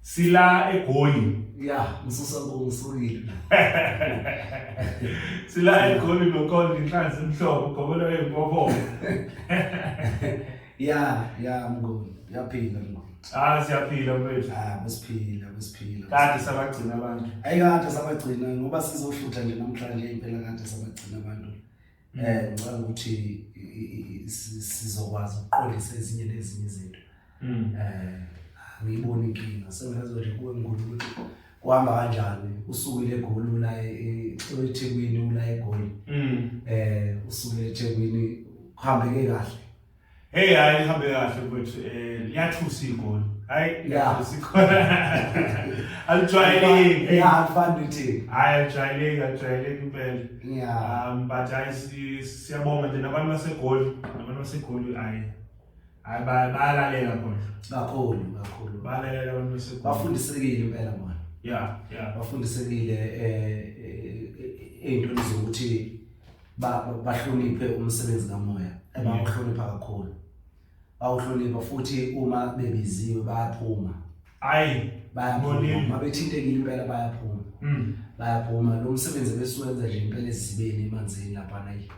sila egoli ya ngisusa ngisukile sila egoli nokhona inhlanzi emhlophe ugobela wempopo ya ya mngoli yaphila mngoli Ah siyaphila mfethu. Ah besiphila besiphila. Kade sabagcina abantu. Ayikade sabagcina ngoba sizohlutha nje namhlanje impela kade sabagcina abantu. eh ngicela ukuthi sizokwazi ukuqondisa ezinye nezinye izinto mm. eh ngiyibona inkinga sengazo nje kuwe ngikho ukuthi kuhamba kanjani usukile egoli ula eThekwini ula egoli mm. eh usukile eThekwini kuhambeke kahle Hey hayi lihambe kahle mfethu eh liyathusa igoli. Hayi Yeah. liyathusa igoli. Alijwayeleki. Yeah, alifani nothini. Hayi alijwayeleki alijwayeleki impela. Yeah. Um but hayi si- siyabonga nje nabantu basegoli nabantu basegoli hayi hayi ba- bayalalela khona. Kakhulu, kakhulu. Bayalalela abantu basegoli. Bafundisekile impela manje. Yeah, yeah. Bafundisekile eh eh, eh, ey'ntweni zokuthi bahloniphe umsebenzi kamoya ebawuhlonipha kakhulu bawuhlonipha futhi uma bebiziwe bayaphuma hayi bayaphuma bethintekile impela bayaphuma hmm. bayaphuma lo msebenzi besuwenza nje impela ezibeni emanzini lapha nayi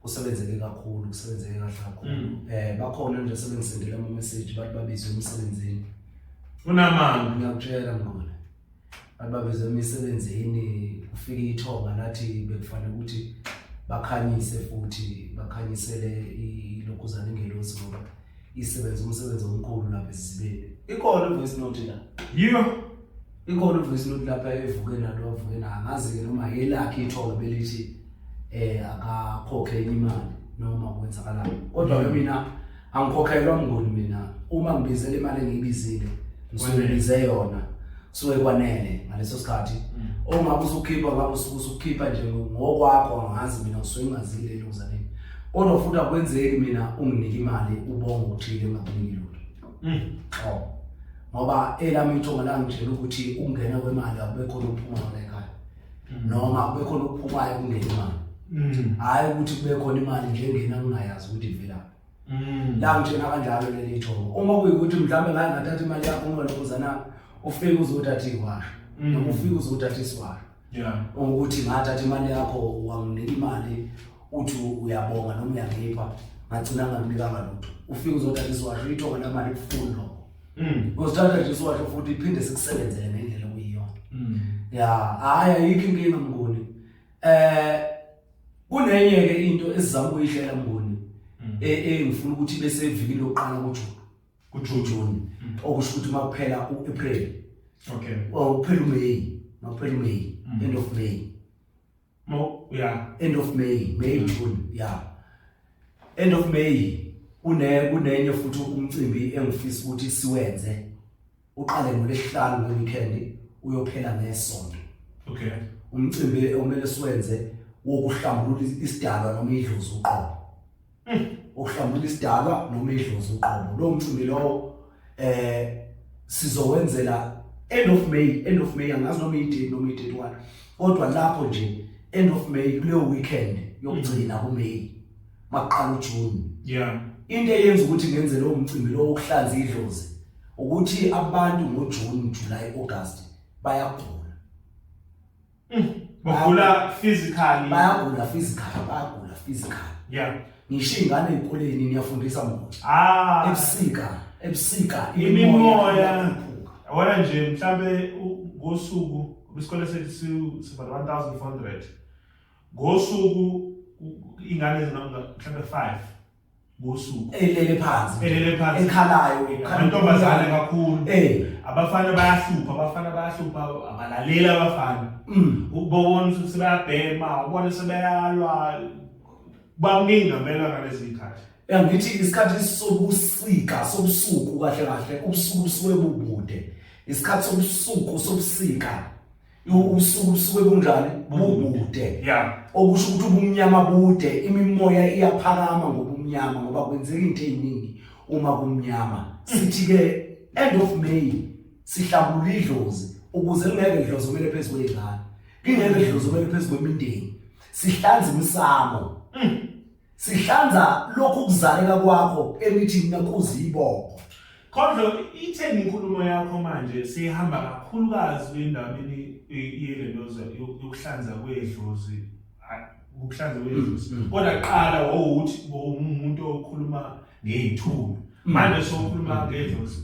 kusebenzeke kakhulu kusebenzeke kahle kakhulu hmm. eh bakhona nje sebengisendela ama message bathi babizwe emsebenzini unamanga ngiyakutshela mngoma ababeze emisebenzini kufika ithonga lathi bekufanele ukuthi bakhanyise futhi bakhanyisele ilokhuzana ingelosi ngoba isebenza umsebenzi omkhulu lapha esizibeni ikhona ivoice note la yiyo ikhona ivoice note lapha evuke nato wavuke na angazi-ke noma yelakhe ithonga belithi um akakhokhe enye imali noma kwenzakalani kodwa-ke mina angikhokhelwa mngoni mina uma ngibizela imali engiyibizile ngisuke ngize yona kusuke kwanele ngaleso sikhathi mm. ongabe usukhipha ngabe usuke usukhipha nje ngokwakho angazi mina ngisuke ngazile elokuzaleni kodwa futhi akwenzeki mina unginike imali ubonga uthile ngakunike lutho mm. oh ngoba elami ithonga langitshela ukuthi ukungena kwemali akube khona uphuma ngalekhaya mm. noma kube khona okuphumayo kungena imali mm. hhayi ukuthi kube khona imali nje engena kungayazi ukuthi ivela mm. la ngithena kanjalo leli thobo uma kuyikuthi mhlawumbe ngaye ngathatha imali yakho uma lokhuzana ufike uzothatha iwasho noma ufike uzothatha isiwasho ukuthi ngathatha imali yakho wanginika imali uthi uyabonga noma uyangipha ngagcina ngamnikanga lutho ufike uzothatha isiwasho ithonga lamali kufuni lokho Mm. Uzithatha nje siwasho futhi iphinde sikusebenzele ngendlela okuyiyona. Mm. Ya, hayi ayikho inkinga mnguni. Eh kunenye ke into esizama ukuyihlela mnguni. Mm. E, e ngifuna ukuthi bese evikini lokuqala kuJune. KuJune. Okusho ukuthi makuphela uApril. Okay. Well, uphela uMay, makuphela uMay, end of May. Mo yeah. End of May, May mm. June, yeah. End of May une kunenye futhi umcimbi engifisa ukuthi siwenze. Uqale ngolesihlanu weekend uyophela ngesonto. Okay. Umcimbi omele siwenze wokuhlambulula isidalwa noma idlozi uqobo. Hmm, uhlambula isidalwa noma idlozi uqobo lo mcimbi lowo eh sizowenzela end of May end of May angazi noma idate noma idate one kodwa lapho nje end of May kuleyo weekend yokugcina ku May maqala uJune yeah into eyenza ukuthi ngenze lo mcimbi lo wokuhlanza idlozi ukuthi abantu ngoJune July August bayagula Mm. Bagula physically. Bayagula physically, bayagula physically. Yeah. Ngisho ingane ezikoleni niyafundisa mona. Ah. Ebusika, ebusika imimoya. Awona nje mhlambe ngosuku isikole sethu siba 1400. Ngosuku ingane ezingamhlambe 5 ngosuku elele phansi elele phansi ekhalayo amantombazane kakhulu eh abafana bayahlupha abafana bayahlupha abalaleli abafana mm. ukubona ukuthi sebeyabhema ubona sebeyalwa bakuningi ngempela ngalezi zikhathi ngithi isikhathi sobusika sobusuku kahle kahle ubusuku busuke bubude isikhathi sobusuku sobusika ubusuku busuke bunjani bubude yeah okusho ukuthi ubumnyama bude imimoya iyaphakama ngobumnyama ngoba kwenzeka into eziningi uma kumnyama sithi ke end of may sihlambula idlozi ukuze lingeke idlozi kumele phezulu kwezingane kingeke idlozi kumele phezulu kwemindeni sihlanza imisamo mm. Sihlanza lokhu kuzaleka kwakho emithi mina kuzibongo. Kodwa itheni inkulumo yakho manje sihamba kakhulukazi endabeni yelento yokuhlanza kwedlozi ukuhlanza kwedlozi mm, mm. kodwa qala wawuthi umuntu okhuluma ngey'thubi mm. manje sokhuluma ngedlozi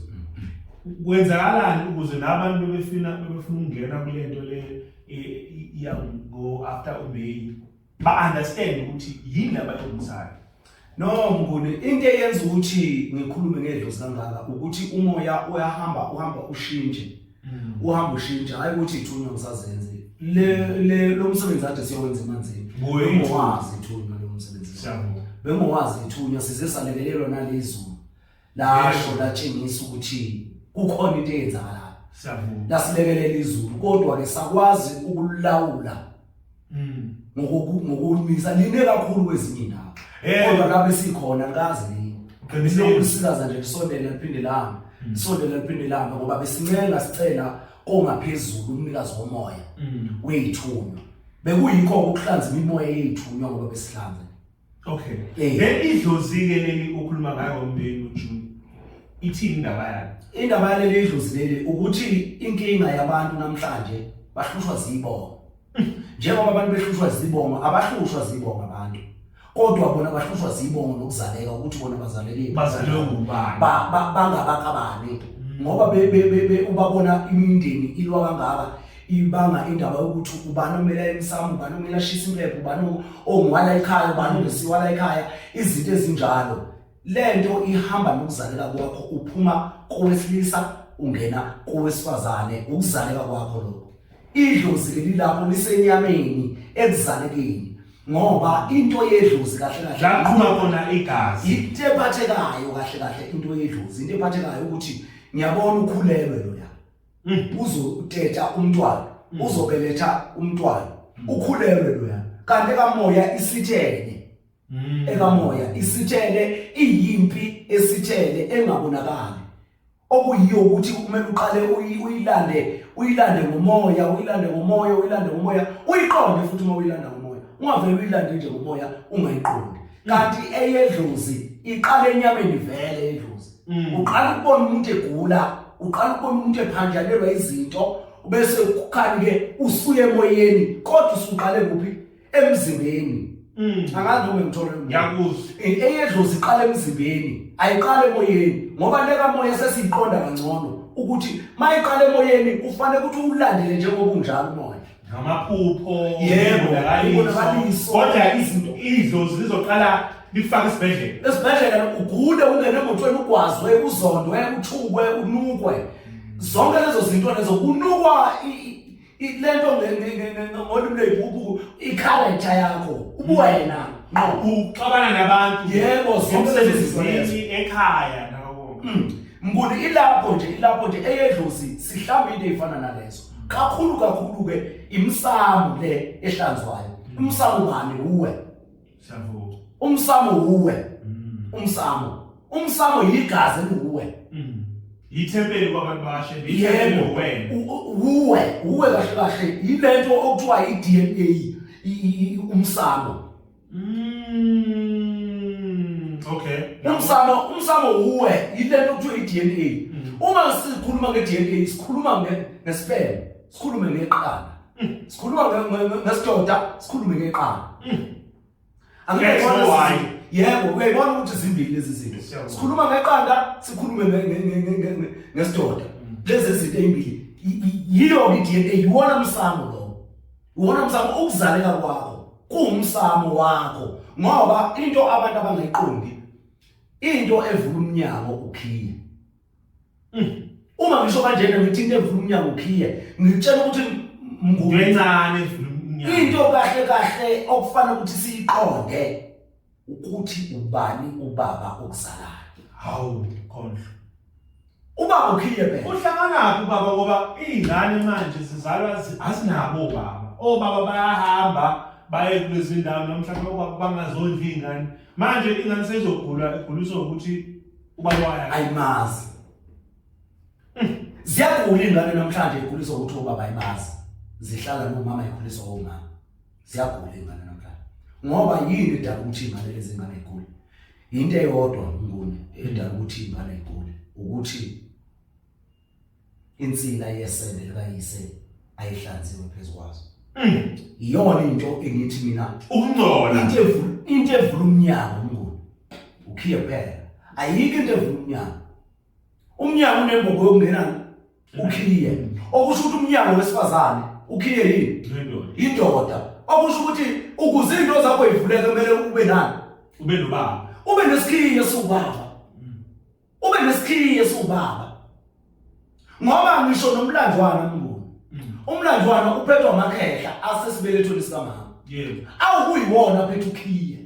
kwenzakalani ukuze nabantu bebefuna bebefuna ukungena kule nto le iya ngo-after umeyi ba understand ukuthi yini abayonzayo no mnguni into eyenza ukuthi ngikhulume ngedlozi kangaka ukuthi umoya uyahamba uhamba ushintshe mm. uhamba ushintshe hayi ukuthi ithunywa ngisazenze le le lo msebenzi ade siyowenza emanzini ngowazi ithunywa lo msebenzi bengowazi ithunywa size salekelelwa nalezulu lasho latshengisa ukuthi kukhona into eyenzakalayo siyavuma lasilekelela izulu kodwa ke sakwazi ukulawula mm ngokukumisa line kakhulu kwezinye indawo eh. kodwa lapho sikhona kazi nini qinisa ukusikaza nje kusondela liphinde langa mm. sondela liphinde langa ngoba besincenga sicela kongaphezulu umnikazi womoya mm. weyithunywa bekuyikho ukuhlanza imimoya yeyithunywa ngoba besihlanza Okay. Eh. Then idlozi ke leli okhuluma ngayo ngombheni uJune. Ithini indaba yakhe? Indaba yaleli idlozi leli ukuthi inkinga yabantu namhlanje bahlushwa zibonga. Njengoba abantu behlushwa zibonga, abahlushwa zibonga abantu. Kodwa bona bahlushwa zibonga nokuzaleka ukuthi bona bazaleke. Bazalwe ngubani? Ba ba- bangabakabani. Ngoba be be be be- ubabona imindeni ilwa kangaka ibanga indaba yokuthi ubani omela emsamo ubani omela ashisa impepho ubani ongiwala ekhaya ubani ongesiwala ekhaya izinto ezinjalo le nto ihamba nokuzaleka kwakho uphuma kowesilisa ungena kowesifazane ukuzaleka kwakho lokho idlozi leli lapho lisenyameni ekuzalekeni ngoba into yedlozi kahle kahle laqhuma khona igazi into ephathekayo kahle kahle into yedlozi into ephathekayo ukuthi ngiyabona ukhulelwe lo Mm. uzoteta umntwana mm. uzobeletha umntwana mm. ukhulelwe loya kanti ekamoya isithele ekamoya isithele iyimpi esithele engabonakali okuyiyo ukuthi kumele uqale uyilande uyilande ngomoya uyilande ngomoya uyilande ngomoya uyiqonde futhi uma uyilanda ngomoya ungavele uyilande nje ngomoya ungayiqondi kanti eyedlozi iqale enyameni vele edlozi mm. uqala ukubona umuntu egula uqala ukubona umuntu ephanjalelwa izinto bese kukhani ke usuye emoyeni kodwa usuqale kuphi emzimbeni mm. angazi noma ngithola ngiyakuzwa eh, eyedlozi iqala emzimbeni ayiqala emoyeni ngoba leka moya sesiqonda kangcono ukuthi mayiqala emoyeni kufanele ukuthi ulandele njengoba unjalo manje ngamaphupho Yebo, ubonakaliso. ubonakaliso. kodwa izinto idlozi lizoqala likufake esibhedlela esibhedlela ugule ungene emotweni ugwazwe uzondwe uthukwe unukwe zonke lezo zinto lezo kunukwa i- i- i- le nto nge- nge- nge- nge- ngolimi lweyibhubhu ikharektha yakho ubuwena nqo uxabana nabantu Yebo, zonke lezo zinto lezo. emsebenzini ekhaya nawo Mm. mnguni ilapho nje ilapho nje eyedlozi sihlamba into eyifana nalezo kakhulu kakhulu ke imsamo le ehlanzwayo umsamo bani uwe siyavuma umsamo uwe mm. umsamo umsamo yigazi uwe mm. yithempeli kwabantu bashe yithempeli wena uwe uwe kahle kahle yilento okuthiwa i-DNA umsamo Mm, okay. Umsamo umsamo uwe yilento kuthiwa iDNA. Mm. Uma sikhuluma ngeDNA sikhuluma ngesperm, sikhulume ngeqanda. Mm. Sikhuluma ngesidoda, sikhulume ngeqanda. Mm. Angeke ngone why. Yebo, uyayibona ukuthi zimbili lezi zinto. Sikhuluma ngeqanda, sikhulume ngesidoda. Lezi zinto ezimbili. Yiyo iDNA, yiwona umsamo lo. Uwona msamo ukuzaleka kwakho kuwumsamo wakho ngoba into abantu abangayiqondi into evula umnyango ukhiye. Mm. Uma ngisho kanjena ngithi into evula umnyango ukhiye ngitshela ukuthi ngukwencane evula umnyango. Into kahle kahle okufanele ukuthi siyiqonde ukuthi ubani ubaba okuzalayo hawu khondlo ubaba ukhile phela uhlanganaphi ubaba ngoba izingane manje zizalwa zi- azinabo obaba obaba bayahamba baye kulezi ndawo noma mhlawumbe obaba bangazondla iy'ngane manje ingane seyizogula eguliswa ukuthi ubaba wayo ayimazi ziyagula iy'ngane namhlanje ikhuliswa ukuthi obaba ayimazi zihlala nomama ikhuliswa omama ziyagula ingane namhlanje ngoba yini edala ukuthi ingane lezi ngane igule into eyodwa ngone edala ukuthi ingane igule ukuthi insila yesende likayise ayihlanziwe phezu kwazo mm. iyona into engithi mina ukungcola into evula into evula umnyango umnguni ukhiye phela ayikho into evula umnyango umnyango unembobo yokungena ukhiye okusho ukuthi umnyango wesifazane ukhiye yini indoda okusho ukuthi ukuze into zakho ivuleke kumele ube nani ube nobaba ube nesikhiye sobaba mm. ube nesikhiye sobaba ngoba ngisho nomlandwana mnguni mm. umlandwana uphethwa amakhehla asesibelethweni sikamama yebo awukuyiwona phethu ukhiye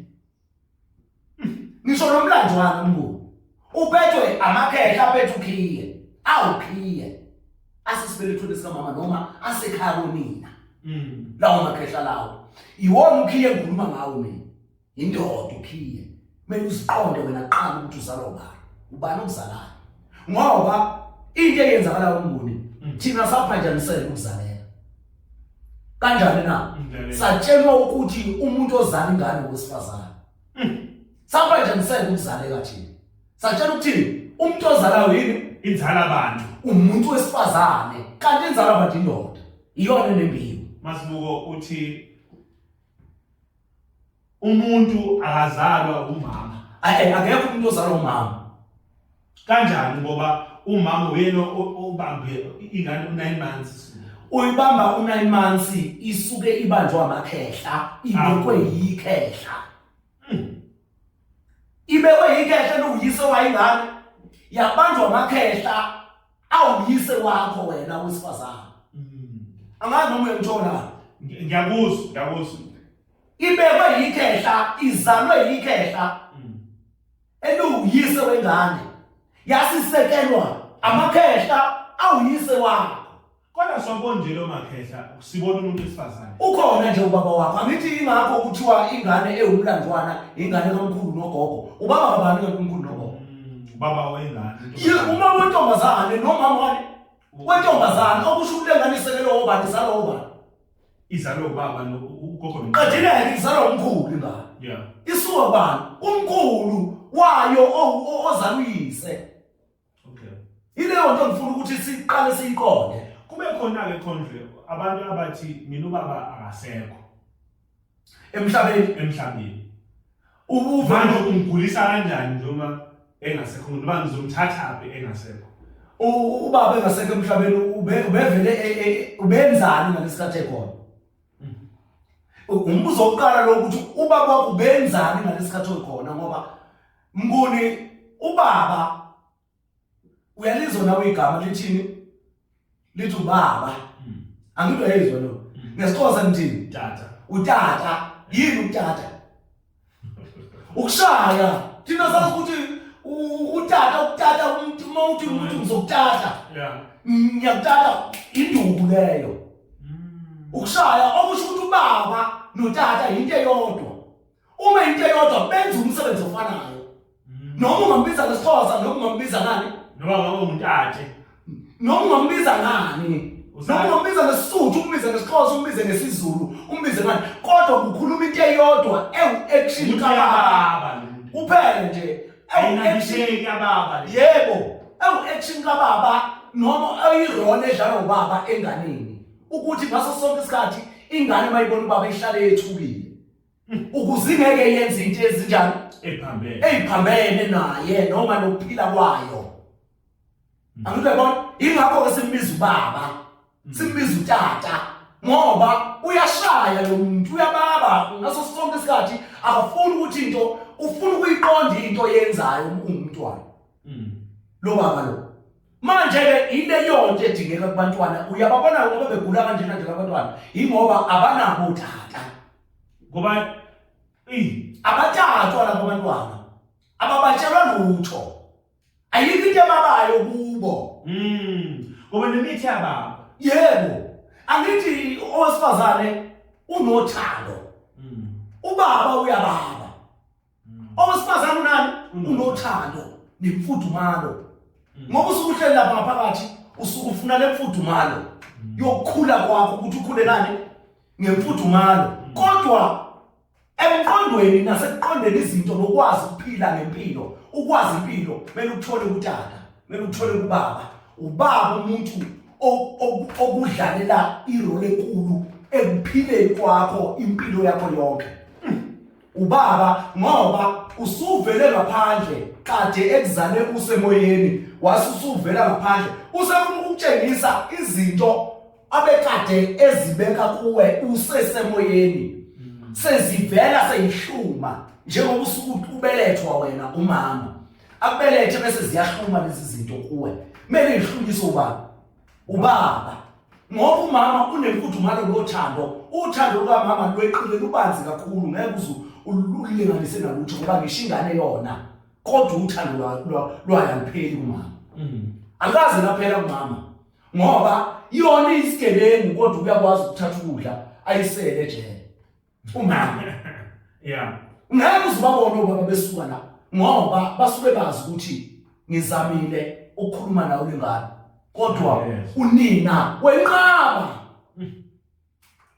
ngisho nomlando wami mnguni uphethwe amakhehla aphethe ukhiye awukhiye asisibelethweni sikamama noma asekhaya konina mm. lawo makhehla lawo iwona ukhiye ngikhuluma ngawo mina indoda ukhiye kumele uziqonde wena kuqala ukuthi uzalwa ubani ubani okuzalayo ngoba into eyenzakalayo umnguni mm. thina saphanjanisela ukuzalela kanjani na satshelwa ukuthi umuntu ozala ingane wesifazane hmm. saba nje ngiseke ukuzaleka thina satshelwa ukuthi umuntu ozalayo yini inzala abantu umuntu wesifazane kanti inzala abantu indoda iyona nembiyo masibuko uthi umuntu akazalwa umama eh, akekho umuntu ozalwa umama kanjani ngoba umama uyena obambe ingane u9 months uyibamba u9 months isuke ibanjwa amakhehla ibekwe yikhehla hmm. ibekwe yikhehla lokuyise wayingane yabanjwa amakhehla awuyise wakho wena wesifazana angazi noma uyangithola ngiyakuzwa ngiyakuzwa ibekwe yikhehla izalwe yikhehla eliwuyise wengane yasisekelwa amakhehla awuyise wakho Kodwa sobonjele omakhehla sibona umuntu wesifazane. Ukhona nje ubaba wakho. Angithi ingakho kuthiwa ingane ewumlandwana ingane kamkhulu nogogo. Ubaba kabani ke kumkhulu nogogo? Mm, ubaba wengane. Ye uma wentombazane nomama wani? Wentombazane okusho ukuthi lengane isekelwe obani salo obani. Izalo ubaba lo ugogo lo. Qedile izalo umkhulu ingane. Yeah. Isuka bani? Umkhulu wayo ozaluyise. okay ileyo nto ngifuna ukuthi siqale siyiqonde kube khona-ke khondle abantu abathi mina ubaba akasekho emhlabeni emhlabeni ubuvalo umgulisa kanjani noma engasekho ngoba ngizomthathaphi engasekho ubaba engasekho emhlabeni ubevele e, e, e, ubenzani ngalesikhathi ekhona umbuzo wokuqala lo ukuthi ubaba wakho ubenzani ngalesikhathi okhona ngoba Mnguni ubaba uyalizwa nawe igama lithini lithi ubaba hmm. angidwa yezwa lo hmm. ngesixhosa ngithini tata utata yini utata ukushaya thina sazi ukuthi utata ukutata umuntu uma uthi umuntu ngizokutata ngiyakutata induku leyo hmm. ukushaya okusho ukuthi ubaba notata yinto eyodwa uma into eyodwa benza umsebenzi ofanayo mm. noma ungambiza ngesithosa noma ungambiza ngani noma ngabe ungutate noma ungambiza ngani noma ungambiza ngesisuthu umbize ngesixhosa umbize ngesizulu umbize ngani kodwa kukhuluma into eyodwa ewu-action kababa kuphele nje ayinabisheki ababa yebo ewu-action kababa noma eyirona edlala ubaba enganeni ukuthi ngaso sonke isikhathi ingane mayibona ubaba ihlale yethukile ukuze ingeke yenze into ezinjani ephambene eziphambene naye noma nokuphila kwayo mm. angike bona ingakho ke simbiza ubaba mm. simbiza utata ngoba uyashaya lo muntu uyababa ngaso sonke isikhathi akafuni ukuthi into ufuna ukuyiqonda into yenzayo umntwana mm. lo baba lo manje-ke ileyonto edingeka kubantwana uyababona ngoba begula kanjena nje abantwana yingoba abanabo utata ngoba abatatwa labo bantwana ababatshelwa lutho ayikho into ebabayo kubo hmm. ngoba nemithi yababo yebo angithi owesifazane unothando hmm. ubaba uyababa Mm. Owesifazane unani? Mm. Unothando nemfudumalo. Mm. Ngoba usukuhleli lapha ngaphakathi usuke ufuna lemfudumalo yokukhula kwakho ukuthi ukhule nani ngemfudumalo. Kodwa emqondweni nasekuqondeni izinto nokwazi ukuphila ngempilo, ukwazi impilo, mele uthole utata, mele uthole ubaba. Ubaba umuntu okudlalela irole enkulu ekuphileni kwakho impilo yakho yonke. ubaba ngoba usuvele ngaphandle kade ekuzale usemoyeni wasusuvela ngaphandle usefuna ukutshengisa izinto abekade ezibeka kuwe usesemoyeni mm. sezivela seyihluma njengoba usuku ubelethwa wena umama akubelethe bese ziyahluma lezi zinto kuwe kumele ihlunyiswe ubaba ubaba ngoba umama unemfudumalo lothando uthando lukamama lweqile lubanzi kakhulu ngeke uzu ululinganise nalutho ngoba ngisho ingane yona kodwa uthando lwayalupheli kumama mm. akaze laphela kumama ngoba yona isigebengu kodwa uyakwazi ukuthatha ukudla ayisele jele umama yeah ngeke uzibabone ubaba besuka la ngoba basuke bazi ukuthi ngizamile ukukhuluma nawe lengane kodwa unina wenqaba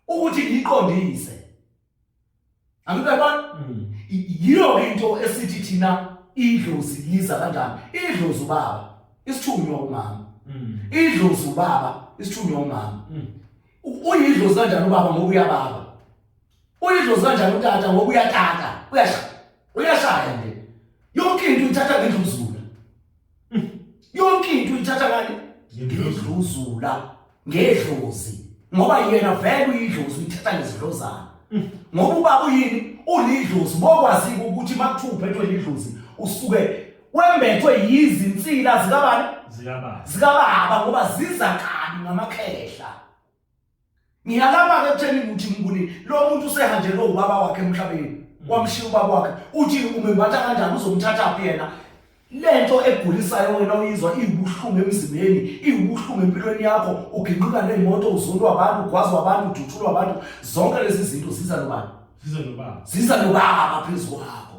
ukuthi ngiqondise angibona mm. yiyo into esithi thina idlozi liza kanjani idlozi ubaba isithunywa umama mm. idlozi ubaba isithunywa umama mm. Uyidlozi kanjani ubaba ngoba uyababa? Uyidlozi kanjani utata ngoba uyatata? Uyasha. Uyashaya nje. Yonke into ithatha ngendluzula. Hmm. Yonke into ithatha ngani? Ngedluzula. Ngedlozi. Ngoba yena vele uyidlozi uyithatha ngezidlozana. Hmm. Ngoba ubaba uyini? Ulidlozi. Bokwazi ukuthi makuthuphe into elidlozi usuke wembethwe yizinsila zikabani zikababa zikababa ngoba ziza kabi ngamakhehla ngiyalama ke kutheni ukuthi ngibuni lo muntu usehanjelwe ubaba wakhe emhlabeni mm. wamshiya ubaba wakhe uthi umembatha kanjani uzomthatha phi yena lento egulisayo wena uyizwa iwubuhlungu emzimbeni iwubuhlungu empilweni yakho uginqika neemoto uzulwa abantu ugwazwa abantu udutshulwa abantu zonke lezi zinto ziza nobani ziza nobaba ziza nobaba phezu kwakho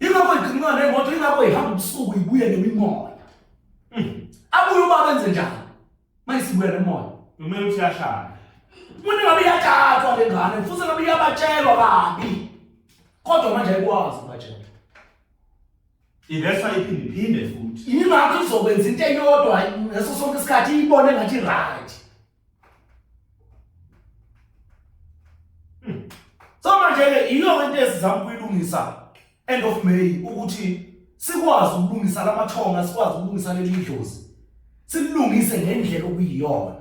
Ingakho igqinqa nemoto ingakho ihamba ubusuku ibuye nemimoya. Hmm. Abuye uba benze njani? Mayisibuya nemoya. Kumele uthi yashaya. Umuntu ngabe iyatatwa le ngane futhi ngabe iyabatshelwa kabi. Kodwa manje ayikwazi ubatshela. Ivesa iphinde iphinde futhi. Ingakho izokwenza into eyodwa ngaso sonke isikhathi iyibone ngathi right. So manje ke yiyo into esizama ukuyilungisa end of May ukuthi sikwazi ukulungisa lamathonga sikwazi ukulungisa leli dlozi silungise ngendlela okuyiyona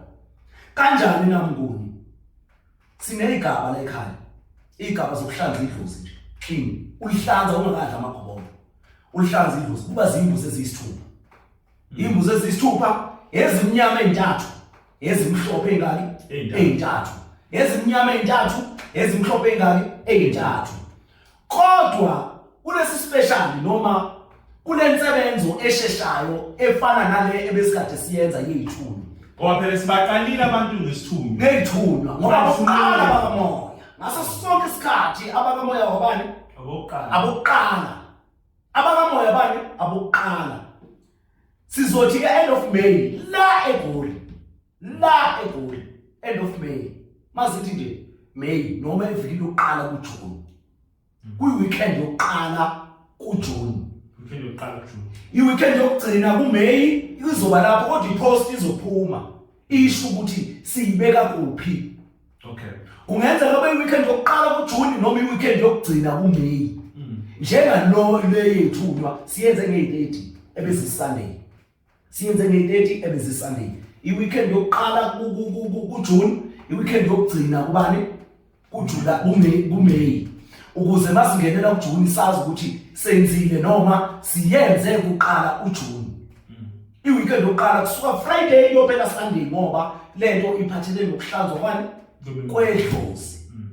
kanjani namnguni sinezigaba la ekhaya igaba zokuhlanza idlozi nje clean ulihlanza ungakadla amagobolo ulihlanza idlozi kuba zimbuzi eziyisithupha imbuzi ezisithupha ezimnyama ezintathu ezimhlophe ingaki ezintathu ezimnyama ezintathu ezimhlophe ingaki ezintathu kodwa kulesi special noma kunensebenzo esheshayo efana nale ebesikade siyenza yeyithuni ngoba phela sibaqalile abantu ngesithunzi ngeyithunwa ngoba kuqala bakamoya ngaso sonke isikhathi abakamoya wabani abokuqala abokuqala abakamoya bani abokuqala sizothi ke end of May la eGoli la eGoli end of May mazithi nje May noma iviki lokuqala kuJune kuyi weekend yokuqala kuJune weekend yokuqala kuJune i weekend yokugcina kuMay izoba lapho kodwa ipost izophuma isho ukuthi siyibeka kuphi Okay. Kungenzeka kube weekend yokuqala kuJune noma iweekend yokugcina kuMay. Mm. Njengalo le yethunywa siyenze nge-30 ebese Sunday. Siyenze nge-30 ebese Sunday. Iweekend yokuqala kuJune, iweekend yokugcina kubani? KuJula kuMay kuMay. Ukuze masingenela kuJune sazi ukuthi senzile noma siyenze kuqala uJune. iweekend yokuqala kusuka friday iyophela sunday ngoba le nto iphathelele nokuhlanzwa kwani kwedlozi mm.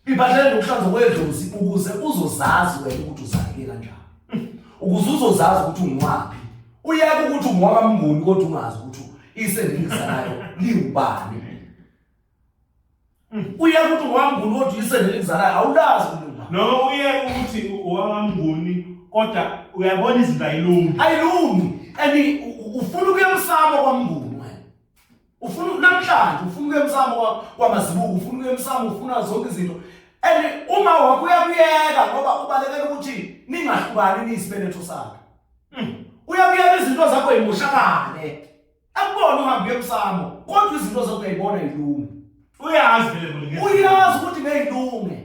iphathelele nokuhlanzwa kwedlozi ukuze uzozazi wena ukuthi uzaleke kanjani mm. ukuze uzozazi ukuthi ungiwaphi uyeke ukuthi ungiwakamnguni kodwa ungazi ukuthi isendingisa nayo liwubani uye ukuthi unganguni kodwa uyisele elikuzalayo awulazi kulunga noma uye ukuthi unganguni kodwa uyabona izinto ayilungi ayilungi and ufuna ukuyemsamo kwamnguni wena ufuna namhlanje ufuna ukuyemsamo kwamazibuko ufuna ukuyemsamo ufuna zonke izinto and uma wakho uyakuyeka ngoba ubalekela ukuthi ningahlukani niyisibeletho sakhe hmm. uyakuyeka izinto zakho yimushakane akubona uhambe emsamo kodwa izinto zokuyibona ilunge uyazi vele kulike uyazi ukuthi ngeyilunge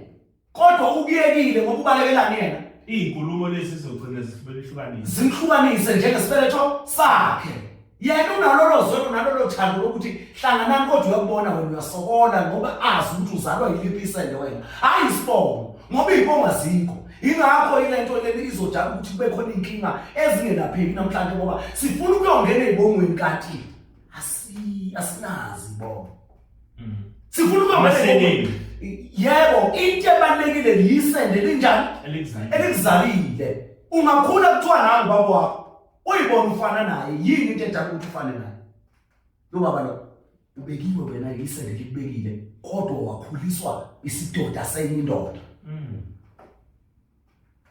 kodwa ukuyekile ngoba ubalekelani yena izinkulumo lezi zizogcina zihlukanise zihlukanise njengesibeletho sakhe yena unalolo zwe unalolo thando lokuthi hlanganani kodwa uyakubona wena uyasokola ngoba azi ukuthi uzalwa yiliphi isende wena hayi isibongo ngoba iy'bongo azikho Yingakho ilento lena izodala ukuthi kube khona inkinga ezingelapheki namhlanje ngoba sifuna ukuyongena ezibongweni kanti asi asinazi ibongo. Mm. Sifuna ukuyongena Yebo, into ebalekile yisende linjani? Elikuzalile. Ungakhula kuthiwa nangu baba wakho. Uyibona ufana naye, yini into edala ukuthi ufane naye? Lo baba lo ubekiwe wena ilisele likubekile kodwa wakhuliswa isidoda senye indoda. Mm.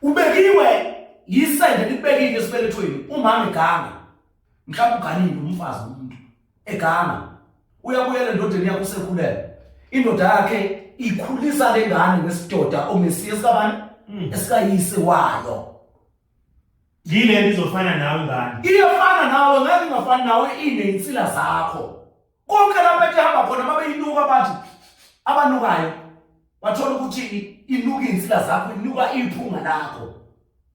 Ubekiwe yisende likubekile esibelethweni umama eganga. Mhlawumbe uganile umfazi umuntu eganga. Uyabuyela endodeni yakho usekhulele. Indoda yakhe ikhulisa lengane ngesidoda omesiye sikabani? Mm. Esikayise wayo. Yile nto izofana nawe ngani? Iyafana nawe ngeke ingafani nawe ineyinsila zakho. Konke lapho etihamba khona babeyinuka bathi abanukayo bathola ukuthi inuka izinsila zakho inuka iphunga lakho.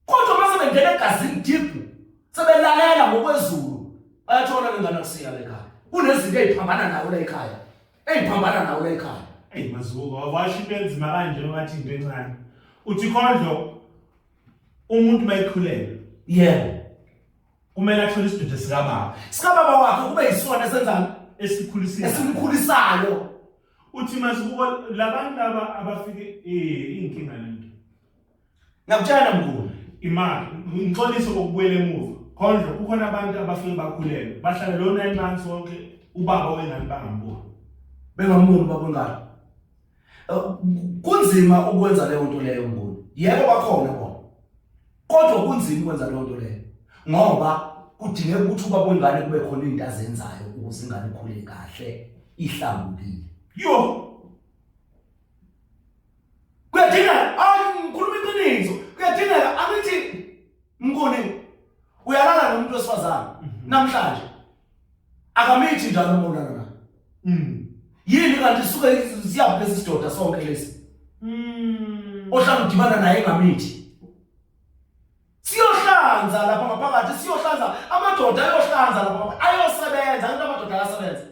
Kodwa uma sebengena egazini deep sebelalela ngokwezulu bayathola lengane kusiya lekhaya. Kunezinto eziphambana nawe lekhaya. Eziphambana nawe lekhaya. Hey mazuko, wawasho into enzima kanje wathi into encane. Uthi kondlo umuntu mayikhulelwe yebo kumele athole isidudu sikababa sikababa wakhe kube yisona esenzani esikhulisile esimkhulisayo uthi masibuko labantu laba abafike eh inkinga lento ngakutshela mkhulu imali ngixolise kokubuyela emuva khonje kukhona abantu abafike bakhulelwe bahlala lo 9 months wonke ubaba wengane bangamboni bengamuni ubaba ongalo kunzima ukwenza leyo nto leyo mboni yebo bakhona bona kodwa kunzima ukwenza leyo nto leyo ngoba kudingeka ukuthi uba kwengane kube khona into azenzayo ukuze ingane ikhule kahle ihlambukile yo kuyadingeka angikhuluma iqiniso kuyadingeka angithi mngoni uyalala nomuntu wesifazane mhm. namhlanje akamithi njalo umonana na mm. yini kanti suke siyaphi lesi sidoda sonke lesi mm. ohlala udibana naye engamithi siyohlanza lapha ngaphakathi siyohlanza amadoda ayohlanza lapha ayosebenza into amadoda ayasebenza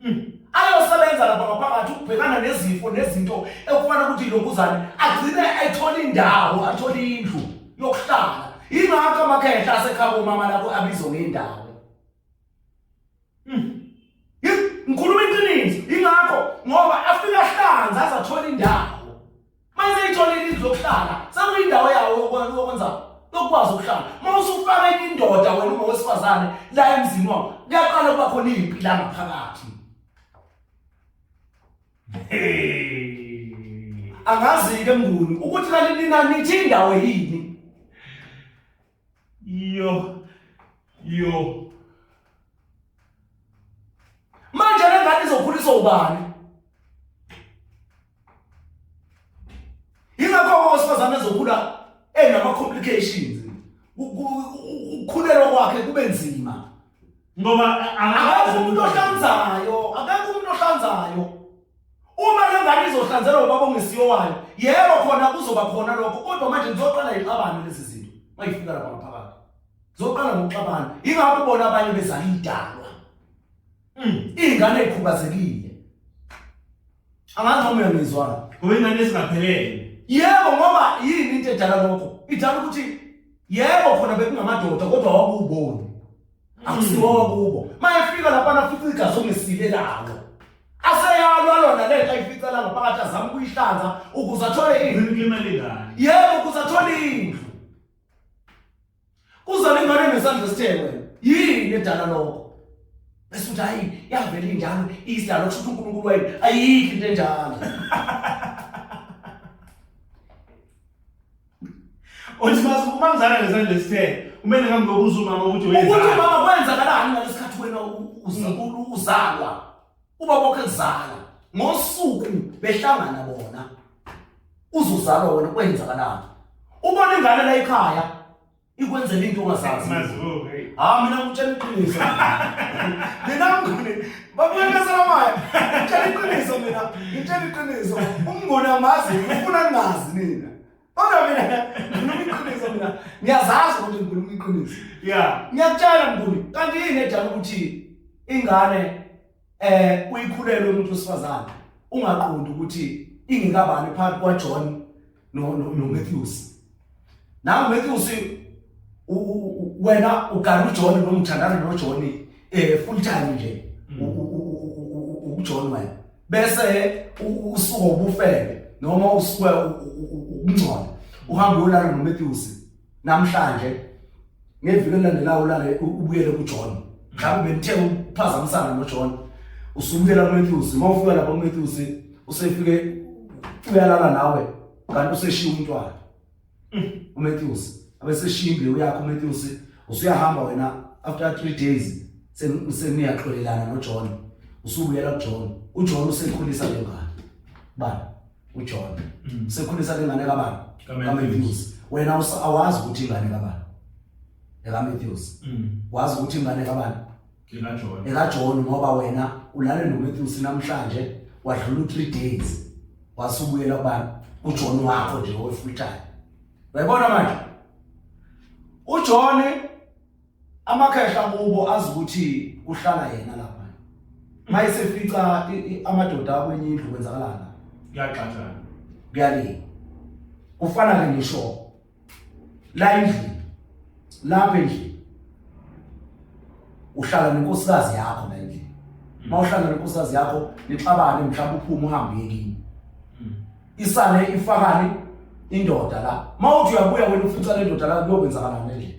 Hmm. Ayosebenza lapha ngaphakathi ukubhekana nezifo nezinto ekufana ukuthi ilombuzane agcine ayithola indawo athole indlu yokuhlala. Ingakho amakhehla asekhaya komama lapho abizwa ngendawo. mayiseyitholile indlu yokuhlala sekuyindawo yawo yokwenza lokwazi ukuhlala uma usufaka enye indoda wena uma wesifazane la emzini wakho kuyaqala ukuba khona impi la ngaphakathi angazi-ke mnguni ukuthi kanti nina nithi indawo yini Yo. Yo. Manje le ngane izokhuliswa ubani? Yingakho owesifazane ezokhula enama complications. Ukukhulelwa kwakhe kube nzima. Ngoba akakho umuntu ohlanzayo, akakho umuntu ohlanzayo. Uma le ngane izohlanzelwa ubaba ongesiyo wayo, yebo khona kuzoba khona lokho, kodwa manje ngizoqala ixabane lezi zinto. Mayifika lapha ngaphakathi. Zoqala ngokuxabana. Ingakho bona abanye bezala idalwa. Mm, ingane ekhubazekile. Angazi noma uyangizwana. Ngoba ingane esingaphelele. Yebo ngoba yini into edala lokho? Idala ukuthi yebo khona bekungamadoda kodwa wawuboni. akusiwowa kubo mayefika lapana futhi igazi ongesile lalo aseyalwa lona le ayifica la ngaphakathi azama ukuyihlanza ukuze athole indlu imali ngani yebo ukuze athole indlu kuzona ingane nesandla sithekwe yini edala lokho bese uthi hayi yavela injalo isidalo kusho ukuthi uNkulunkulu wayini ayikho into enjalo Othi basi uma ngizala ngesandla esithe kumele ngihambe ngokuza umama ukuthi wenzani. Ukuthi mama kwenzakalani ngalesikhathi wena mm. uzalwa. Uba bokhe kuzala ngosuku behlangana bona. Uzozalwa wena kwenzakalani? Ubona ingane la ekhaya ikwenzela into ongazazi hayi mina ngitshela iqiniso mina mngane babuyekesela maya ngitshela iqiniso mina ngitshela iqiniso umngane amazi ngifuna ningazi nina kodwa mina ngikhuluma iqiniso mina ngiyazazi ukuthi ngikhuluma iqiniso ya ngiyakutshela mnguni kanti yini edala ukuthi ingane eh uyikhulelwe umuntu wesifazane ungaqondi ukuthi ingikabani phakathi kwaJohn no no, no Matthews na Matthews wena ugana uJohn noma uthandana noJohn eh full time nje mm. uJohn wena bese usuka ubufebe noma usuka ukungcola uhamba uyolala noMatthews namhlanje ngeviki elilandelayo ulale ubuyele kuJohn mhlawumbe benithe ukuphazamisana noJohn usubuyela kuMatthews uma ufika lapha kuMatthews usefike uyalala nawe kanti useshiya umntwana mm. uMatthews abeseshiya imbewu yakho uMatthews usuyahamba wena after 3 days seniyaxolelana noJohn usubuyela kuJohn uJohn usekhulisa lengane bani uJohn mm. sekhulisa ke ngane kabani kaMatthews wena awazi ukuthi ingane kabani eka Matthews mm. wazi ukuthi ingane kabani eka John eka John ngoba wena ulale no Matthews namhlanje wadlula 3 days wasubuyela kubani uJohn wakho nje owefultayo uyabona manje uJohn amakhehla kubo azi ukuthi kuhlala yena lapha mayisefica amadoda akwenye indlu kwenzakalana kuyaxatshana kuyaliwa kufana ke ngisho la endlini lapha endlini uhlala nenkosikazi yakho la endlini mawuhlala nenkosikazi yakho nixabane mhlawumbe uphume uhambe yekini isale ifakani indoda la mawuthi uyabuya wena ufica le ndoda la kuyokwenzakalani ngendlela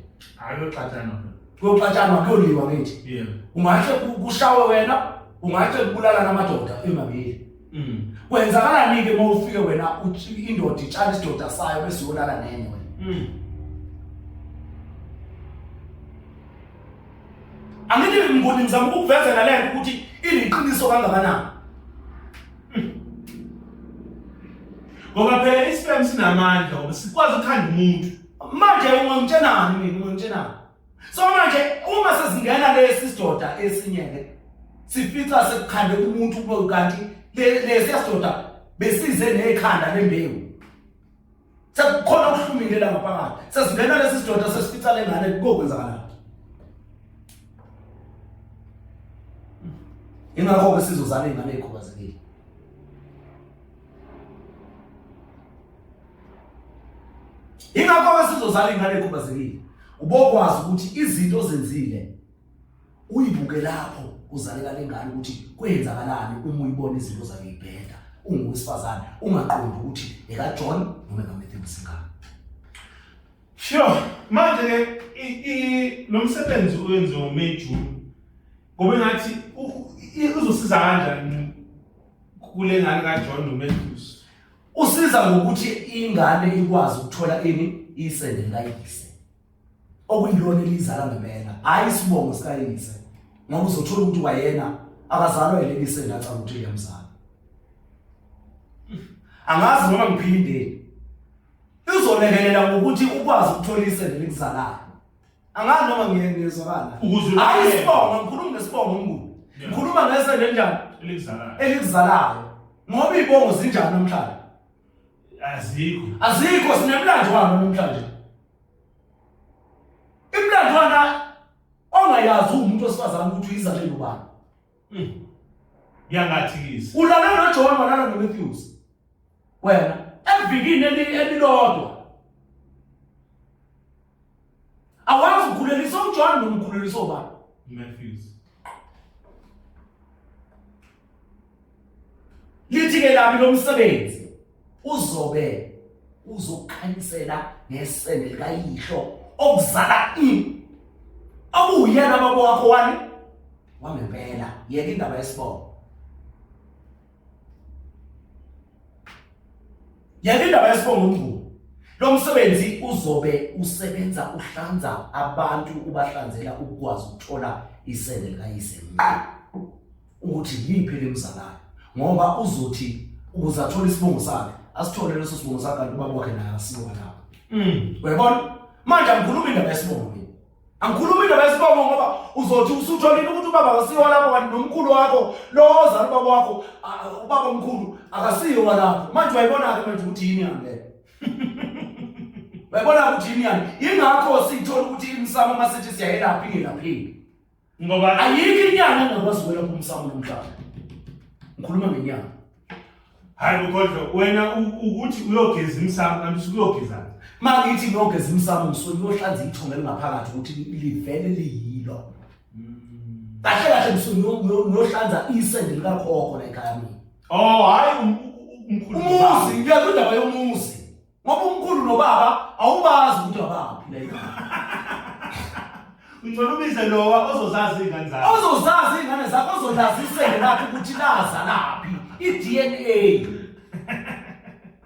ayoxatshana kuyoxatshana kuyoliwa ngithi yebo ungahle kushawe wena ungahle kubulala namadoda emabili mm. kwenzakalani ke uma ufike wena indoda itshala isidoda sayo bese uyolala nenye wena mm. angithi ngiboni ngizama ukukuvezela lento ukuthi iliqiniso kangakanani ngoba phela isifem sinamandla ngoba sikwazi ukukhanda umuntu manje ungangitshenani mina ungangitshenani so manje uma sesingena lesi sidoda esinye le sifica sekukhande umuntu kube kanti lesi sidoda besize nekhanda lembewu sekukhona ukuhlumile la ngaphakathi sesingena lesi sidoda sesifica lengane kokwenzakalani ingakho-ke sizozala iy'ngane ey'khubazekile ingakho-ke sizozala iy'ngane ey'khubazekile ubokwazi ukuthi izinto ozenzile uyibuke lapho kuzalela lengane ukuthi kwenzakalani uma uyibona izinto zakhe ibheda ungowesifazane ungaqondi ukuthi ekaJohn noma ekaMatthew Msingana sho manje ke lo msebenzi oyenziwa uMeju ngoba ngathi uzosiza kanjani kule ngane kaJohn noMatthews usiza ngokuthi ingane ikwazi ukuthola ini isende layise okuyilona elizala ngempela hayi isibongo sikayise ngoba uzothola ukuthi wayena akazalwa yileli sengathi ukuthi uyamzala angazi noma ngiphindeni uzolekelela ngokuthi ukwazi ukuthola isende likuzalayo angazi noma ngiyengezwakala hayi isibongo ngikhuluma ngesibongo umnguni ngikhuluma ngesende njani elikuzalayo elikuzalayo ngoba ibongo zinjani namhlanje azikho azikho sinemlando wami namhlanje Imlandwana ongayazi umuntu osifazana ukuthi uyizale lobani. Hmm. Yangathikisa. Ulale noJohn walala noMatthews. Wena evikini elilodwa awazi ukhulelisa uJohn nomkhulelisa obani Matthews lithi ke lami lomsebenzi uzobe uzokhanyisela ngesende likayihlo okuzala ini okuyena baba wakho wani wangempela yeka indaba yesibongo yena indaba yesibongo umnguni lo msebenzi uzobe usebenza uhlanza abantu ubahlanzela ukukwazi ukuthola isende likayise ukuthi yiphi lemzalayo ngoba uzothi ukuze athole isibongo sakhe asithole leso sibongo sakhe kanti ubaba wakhe naye asiwa lapho mm. uyabona manje angikhuluma indaba yesibongo mina angikhulumi noma isibongo ngoba uzothi usutholile ukuthi ubaba akasiyo walapho kanti nomkhulu wakho lowo ozala ubaba wakho ubaba omkhulu akasiyo walapho manje wayibona-ke manje ukuthi yini yani leyo wayibona ukuthi yini yani yingakho sithola ukuthi imsamo uma sithi siyayelaphi ingelapheki ngoba ayikho inyanga engakwazi ukwelapha umsamo nomhlaba ngikhuluma ngenyanga hayi bukodlo wena ukuthi uyogeza imsamo kanti usukuyogezana ma ngithi ngiyogeza imsamo ngisuke ngiyohlanza ithonga elingaphakathi ukuthi livele liyilo hmm. kahle kahle ngisuke ngiyohlanza isende likakhokho la ekhaya mina oh hayi um, um, um, umuzi ngiyakho indaba yomuzi Ngoba umkhulu nobaba awubazi ukuthi abaphi la igama. Ngicela ubize lowa ozozazi ingane zakho. Ozozazi ingane zakho ozolazisele laphi ukuthi laza laphi i-DNA.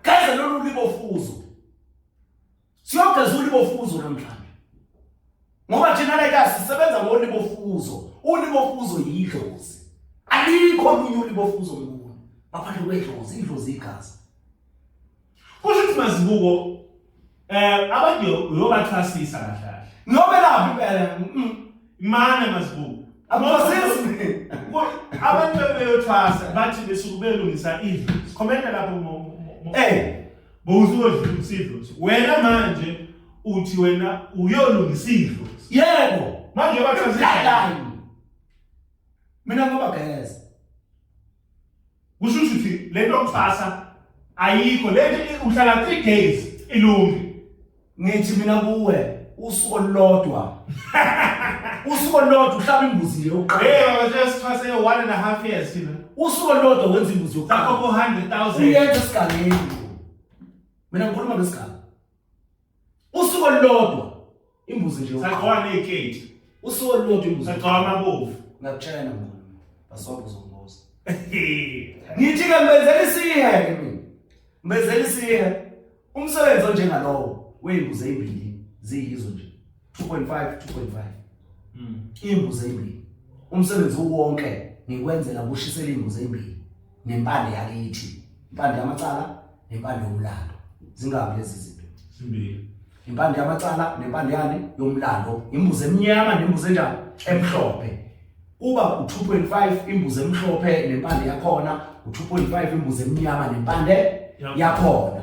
Kaze lolu libofuzo. Siyogeza ulibofuzo namhlanje. Ngoba thina la ekhaya sisebenza ngolibofuzo. Ulibofuzo yidlozi. Alikho olunye ulibofuzo ngikuwe. Baphathe kwedlozi, idlozi igazi. Kusho ukuthi mazibuko eh abantu uyobathwasisa kahle kahle. Noma laphi impela mm, imane mazibuko. Abosisi abantu beyothwasa bathi besuke belungisa idlo. Sikhomenta lapho mo. Eh bowuzodla usidlo. Wena manje uthi wena uyolungisa idlo. Yebo, manje bathi mina ngoba guys kusho ukuthi lento yokuthwasa ayikho lento uhlala 3 days ilungi ngithi mina kuwe usuku olulodwa usuku olulodwa uhlaba imbuzi nje uqala hey baba nje sithwase 1 and a half years thina usuku olulodwa wenza imbuzi yokuqala sakho 400000 uyenza esigangeni mina ngikhuluma ngesigaba usuku olulodwa imbuzi nje sagqoka neziketi usuku olulodwa imbuzi sagqoka amabovu ngakutshela ngona basonke uzombuza ngithi ke mbenzela isihe ke mina mbenzela isihe umsebenzi onjengalowo weyimbuzi ezimbili ziyizo nje 2.5 2.5 mm. imbuzi ezimbili umsebenzi uwonke ngikwenzela kushisela imbuzi ezimbili nempande yakithi impande yamacala nempande yomlando zingabi lezi zinto zimbili impande yamacala nempande yani yomlando imbuzi emnyama nembuzi enjani emhlophe kuba u2.5 imbuzi emhlophe nempande yakhona u2.5 imbuzi emnyama nempande yakhona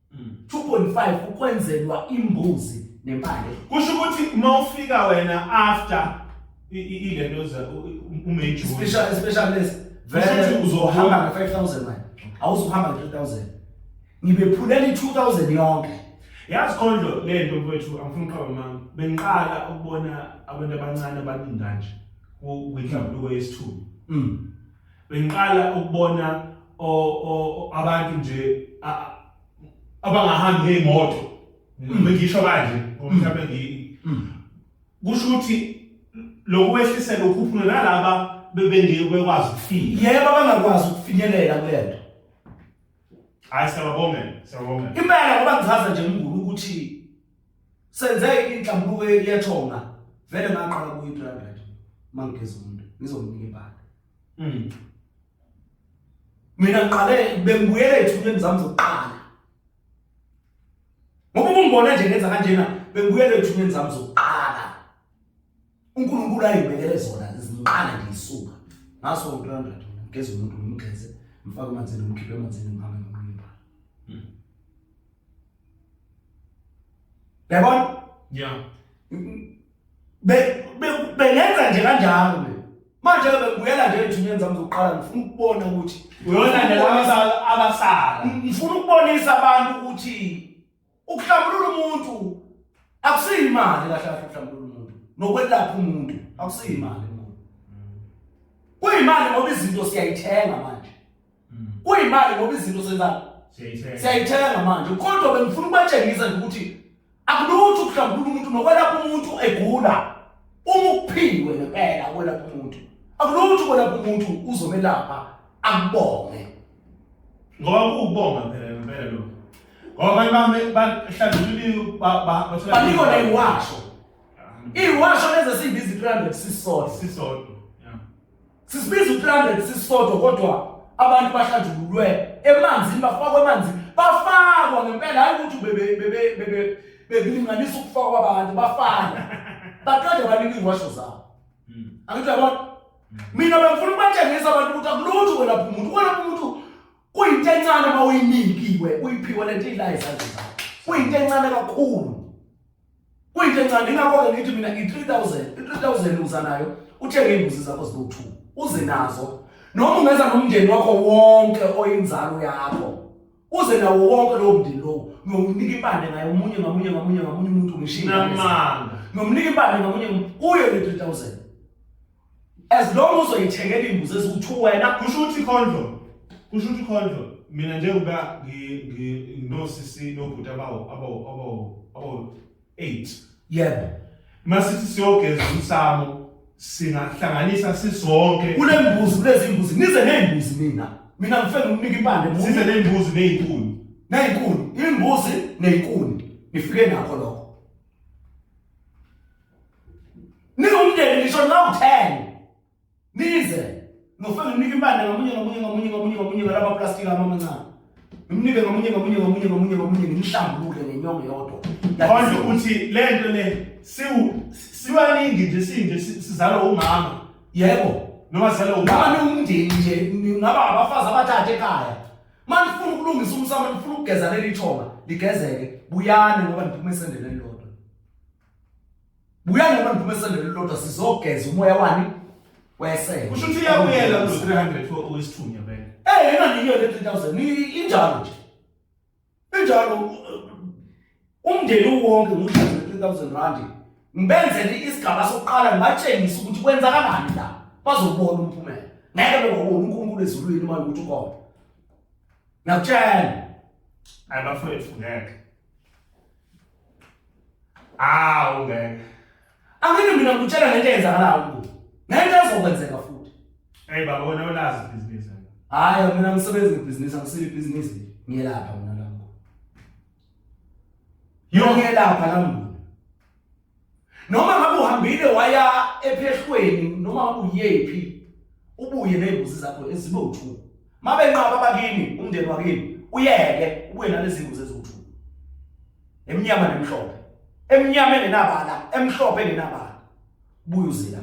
2.5 mm. ukwenzelwa imbuzi nempande kusho ukuthi uma ufika wena after ilento za umeju special special list vele uzohamba nge 5000 manje awuzohamba nge 3000 ngibephulela i 2000 yonke yazi khondlo lento mfowethu angifuni uqhaba mama bengiqala ukubona abantu abancane abaningi kanje kwinhlambuluko yesithuba mm bengiqala ukubona abantu nje abangahambi ngeyimoto mm. bengisho kanje mm. mhlawumbe ngi mm. kusho ukuthi lokwehlisela ukhuphula nalaba bebengeke bekwazi ukufika yebo abangakwazi ukufinyelela kulento hayi siyababongela siyababongela impela ngoba ngichaza nje ngikulu ukuthi senze inhlambuluko yethonga vele ngaqala kuyi 300 mangigeza umuntu ngizomnika ibhaka mm mina ngiqale bengibuyele ethuneni zami zokuqala ngoba ungibona nje ngenza kanjena bengibuyele ethuneni zami zokuqala uNkulunkulu ayibekele zona zinqala ngiyisuka ngaso ngilanda thona ngeze umuntu ngimgeze mfake emanzini ngimkhiphe emanzini ngihambe ngimlimba hmm. yabona ya be bengenza nje kanjalo mina manje ke bengibuyela nje ethunyeni zami zokuqala ngifuna ukubona ukuthi uyona nje laba abasala ngifuna ukubonisa abantu ukuthi ukuhlambulula umuntu akusiyo imali kahle kahle ukuhlambulula umuntu nokwelapha umuntu akusiyo imali umuntu kuyimali ngoba izinto siyayithenga manje mm. kuyimali ngoba izinto senza siyayithenga manje kodwa bengifuna ukubatshengisa nje ukuthi akulutho ukuhlambulula umuntu nokwelapha umuntu egula uma ukuphiwe ngempela ukwelapha umuntu akulutho ukwelapha umuntu uzomelapha akubonge ngoba kuwubonga phela ngempela lo ngoba abantu bami bahlanzulile bathola banikwa na iwasho iwasho lezi esiyibiza i-300 sisodwa sisodwa sisibiza u-300 sisodwa kodwa abantu bahlanjululwe emanzini bafakwa emanzini bafakwa ngempela hayi ukuthi bebe bebe bebe bekulinganisa ukufakwa abantu bafana baqede banika iwasho zabo mm. angithi yabona mm. mina bengifuna ukubatshengisa abantu ukuthi akulutho ukwelapha umuntu ukwelapha umuntu kuyinto encane uma uyinikiwe uyiphiwe le nto ila izandla zakho kuyinto encane kakhulu kuyinto encane ingakho-ke ngithi mina i-three thousand i-three thousand uza nayo uthenge iy'mbuzi zakho zibowu-two uze nazo noma ungenza nomndeni wakho wonke oyinzalo yakho uze nawo wonke lowo mndeni lowo nomnika impande ngaye omunye ngamunye ngamunye ngamunye umuntu ngishinga namanga nomnika impande ngamunye uye le 3000 as long uzoyithengela imbuzi eziwu2 wena kusho ukuthi condom kusho ukuthi condom mina njengoba ngi ngi no sisi no bhuti abawo abawo abawo abawo 8 yebo masithi siyogeza umsamo singahlanganisa sisonke kule mbuzi kulezi mbuzi nize neyimbuzi mina mina ngifela ukunika impande mbuzi size neyimbuzi neyinkuni neyinkuni imbuzi neyinkuni nifike nakho lokho ningumndeni ngisho nawu 10 nize ngofana nginika impande ngamunye ngamunye ngamunye ngamunye ngamunye ngalaba plastic ama amancane ngimnike ngamunye ngamunye ngamunye ngamunye ngamunye ngimhlambulule ngenyongo yodwa manje ukuthi lento le siwu sibaningi nje sinje sizalwa umama yebo noma sizalwa umama niwumndeni nje ngaba abafazi abathathe ekhaya manje ufuna ukulungisa umsamo ufuna ukugeza leli thonga ligezeke buyani ngoba niphume esendeleni buya noma niphume esendele lodwa sizogeza umoya wani wesele kusho ukuthi uyabuyela ku 300 oyisithunya bene eh yena niyo le 3000 ni injalo nje injalo uh, umndeni wonke ngudlala 3000 rand ngibenzele isigaba sokuqala ngibatshengisa ukuthi kwenza kanani la bazobona umphumela ngeke bekubona uNkulunkulu ezulwini uma ukuthi ukhona ngakutshela ayibafowethu ngeke Awu ngeke. Angene mina ngikutshela ngento eyenzakalayo kubo. Ngeke ezokwenzeka futhi. Hey baba wena ulazi ibhizinisi. Hayi mina ngisebenza ngebhizinisi angisile ibhizinisi. Ngiyelapha mina lapho. Yonke lapha la mnguni. noma ngabe uhambile waya ephehlweni noma ngabe uyephi ubuye ney'ngozi zakho ezibe uthu uma benqaba abakini umndeni wakini uyeke ubuye nalezi ngozi eziwuthu emnyama nemhlophe emnyama engenabala emhlophe engenabala buye uzila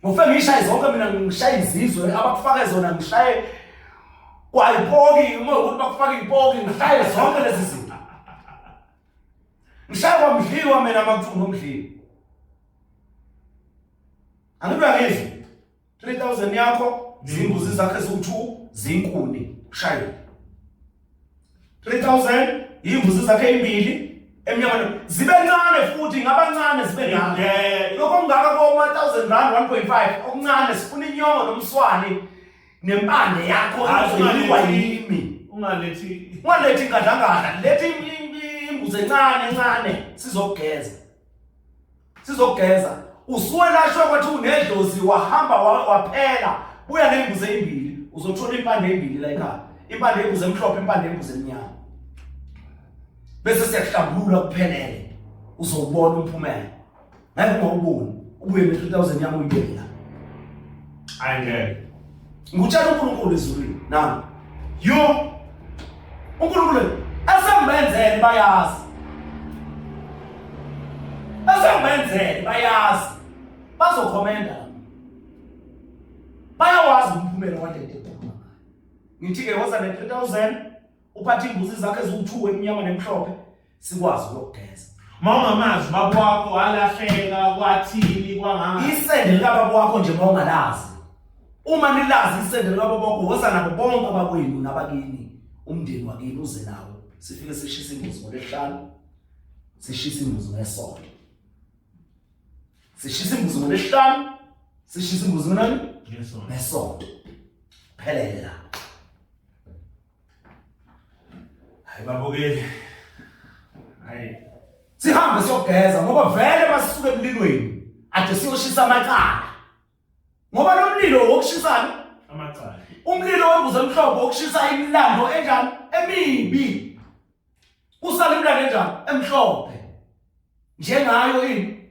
ngofe ngishaye zonke mina ngishaye izizwe abakufake zona ngishaye kwayipoki uma ukuthi bakufake ipoki ngishaye zonke lezi zinto Ngishaywa mdliwa mina makuthiwa nomdliwa. Angibe ngizwe 3000 yakho zimbuzi zakhe ziwu2 zinkuni shaywa. 3000 imbuzi zakhe imbili emnyakeni zibe ncane futhi ngabancane zibe ngaka lokho ngaka ko 1000 rand 1.5 okuncane sifuna inyongo nomswani nempande yakho izodliwa yimi ungalethi ungalethi ingadlangala lethi imbuzi encane encane sizogeza sizogeza usuwelashwe kwathi unedlozi wahamba waphela buya nembuzi ezimbili uzothola impande ezimbili la ekhaya impande embuzi emhlophe impande embuzi emnyama bese siyahlambulula kuphelele uzowubona umphumela ngeke ngawuboni ubuye ne 3000 yami uyibeke la hayi ngeke ngikutshela uNkulunkulu ezulwini nami yo uNkulunkulu asembenzele bayazi asembenzele bayazi bazokhomenda bayawazi umphumela wadede ngithi-ke woza ne-3000 uphathe imbuzi zakhe eziwu-two emnyama nemhlophe sikwazi ukugeza uma ungamazi ubaba wakho walahleka kwathini kwanganga isende likababa wakho nje uma ungalazi uma nilazi isende likababa wakho woza nabo bonke abakwenu nabakini umndeni wakini uze nawo sifike sishisa imbuzi ngolesihlanu sishisa imbuzi ngesonto sishisa imbuzi ngolesihlanu sishisa imbuzi ngenani ngesonto phelele lapho Hayi babukeli. Hayi. Sihambe siyogeza ngoba vele basisuke emlilweni. Ade siyoshisa amacala. Ngoba lo mlilo wokushisana amacala. Umlilo wembuzo emhlophe wokushisa imilando enjani emibi. Usale imilando enjani emhlophe. Njengayo ini?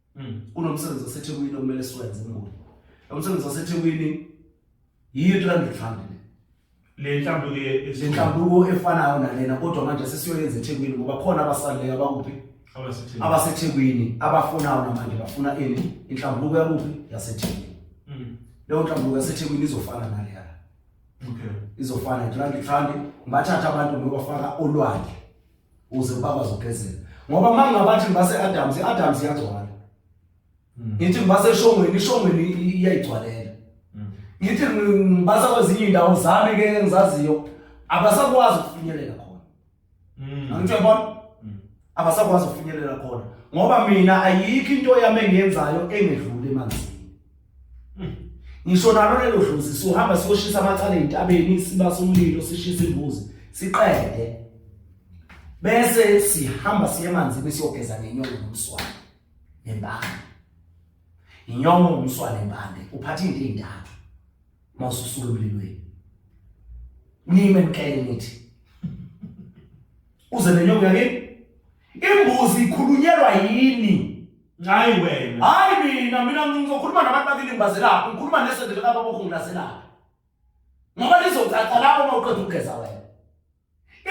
Hmm. Kunomsebenzi waseThekwini okumele siwenze ngoni. Umsebenzi waseThekwini yiyo 300 rand le. Le nhlambuko le nhlambuko efanayo nalena kodwa manje sesiyoyenza eThekwini ngoba khona abasaleyo abakuphi? AbaseThekwini. AbaseThekwini abafunayo namanje bafuna ini? Inhlambuko yakuphi? YaseThekwini. Hmm. Leyo nhlambuko yaseThekwini izofana naleya. Okay. Izofana 300 rand. Bathatha abantu ngoba bafaka olwandle. uze ubaba azogezela ngoba uma ngabathi ngibase adams i-adams iyagcwala mm. ngithi ngibase eshongweni ishongweni iyayigcwalela mm. ngithi ngibasa kwezinye iy'ndawo zami ke engizaziyo abasakwazi ukufinyelela khona mm. angithe bona abasakwazi ukufinyelela khona ngoba mina ayikho into yami engiyenzayo engedluli emanzini ngisho nalo lelo dlozi siyohamba siyoshisa amacala entabeni siba somlilo sishisa imbuzi siqede bese sihamba siye emanzini siyogeza nenyongo nomswane nembande inyongo nomswane nembande uphatha into ezintathu mawususula umlilweni nime mkele nithi uze nenyongo yakini imbuzi ikhulunyelwa yini Hayi wena. Hayi mina mina ngizokhuluma nabantu bakilimbazelapho ngikhuluma nesendele laba bokungilazelapho. Ngoba lizothatha lapho uma uqeda ukugeza wena.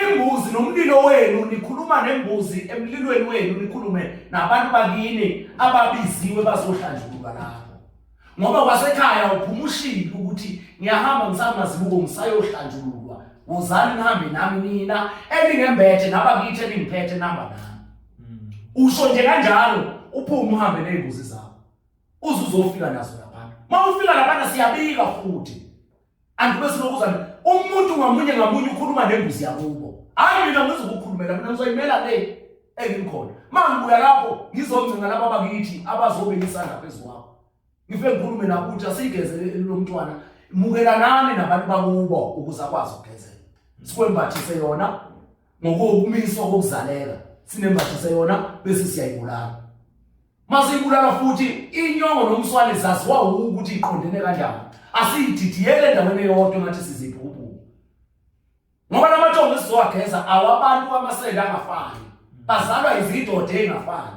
Imbuzi nomlilo wenu nikhuluma nembuzi emlilweni wenu nikhulume nabantu bakini ababiziwe bazohlanjululwa lapho. Ngoba wasekhaya uphuma ushilo ukuthi ngiyahamba ngisamazibuko ngisayohlanjululwa. Wozani nihambe nami nina elingembethe nabakithi elingiphethe namba nami. mm. usho nje kanjalo uphume uhambe nezimbuzi zakho uze uzofika nazo laphana uma ufika laphana siyabika futhi andibe sinokuzana umuntu ngamunye ngamunye ukhuluma nembuzi yakubo hayi mina ngizokukhulumela mina ngizoyimela le engikhona mangibuya lapho ngizongcinga laba bakithi abazobe ngisanda phezu kwakho ngifike ngikhulume nakuthi asigezele lomntwana mukelanani nabantu bakubo ukuze akwazi ukugezela sikwembathise yona ngokumiswa kokuzaleka sinembathise yona bese siyayibulala masiyibulala futhi inyongo nomswane zaziwa ukuthi iqondene kanjani asiyididiyele endaweni eyodwa ngathi siziphi ububi ngoba lamathongo esizowageza awabantu amasende angafani bazalwa izidoda engafani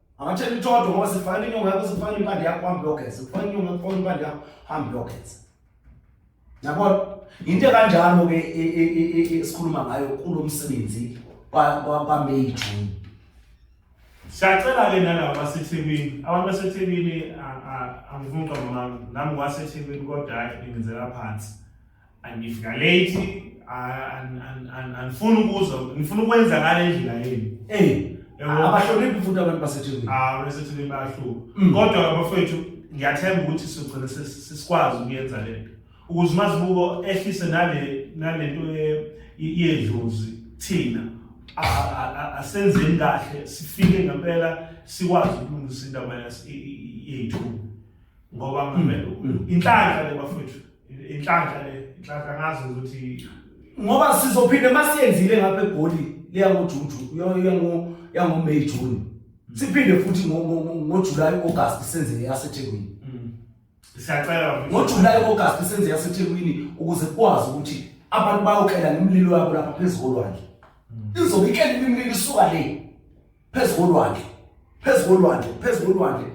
Angathela itodo ngoba sifana inyonga yakho sifana impande yakho hambe yogeza. Sifana inyonga yakho impande yakho hambe yogeza. Yabona? Into kanjalo ke e, e, e, esikhuluma ngayo kulomsebenzi kwa kwa May June. Siyacela ke nalabo baseThekwini, abantu baseThekwini angifuni uqamba mami, nami kwaseThekwini kodwa hayi ngizela phansi. angivikalate angifuni ukuzwa ngifuna ukwenza ngale ndlela yenu ey abahloniphi futhi abantu baseThekwini ah baseThekwini bayahluka mm. kodwa abafowethu ngiyathemba ukuthi sizogcina sisikwazi ukuyenza le nto ukuze umazibuko ehlise nale nale nto yedlozi thina asenzeni kahle sifike ngempela sikwazi ukulungisa indaba yethu ngoba hmm. inhlanhla le bafowethu inhlanhla le inhlanhla ngazi ukuthi ngoba sizophinde masiyenzile ngapha egoli leya ngojuju yango May June hmm. siphinde futhi ngo July August senze yaseThekwini hmm. siyacela ngo July August senze yaseThekwini ukuze kwazi ukuthi abantu bayokela nemlilo yabo lapha phezulu kwanje izobikela imlilo isuka le phezu kolwandle phezu kolwandle phezu kolwandle